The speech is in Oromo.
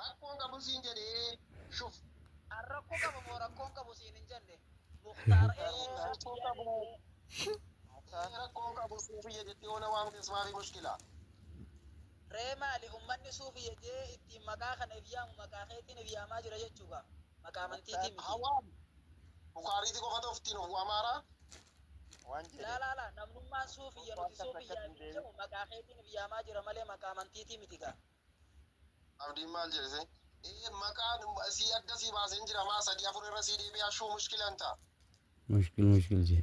Rakkoo hin qabu siin jedhee shuf. An rakko qaba moo rakko hin qabu siin hin jenne muktar ee Rakkoo hin qabu ee rakkoo hin qabu suufiyya jettee ona waamtes maafi mushkila. Ree maali ummanni suufiyya jee ittiin maqaa kana if yaamu maqaa keetiin if yaamaa jira jechuu kaa maqaa amantiitii miti. Haa waamu bukaariiti qofa ta'uuf ittiin of waamaaraa waan jeedheef. Laa laa laa namnummaan suufiyya nuti suufiyyaa ifiin jamu maqaa keetiin if yaamaa jira malee maqaa amantiitii miti kaa. Abdiin maal jedhe see? Ee maqaa sii adda sii baaseen jira maa sadii afur irra sii deebi'aa shuu mushkila hin ta. Mushkil mushkil jee.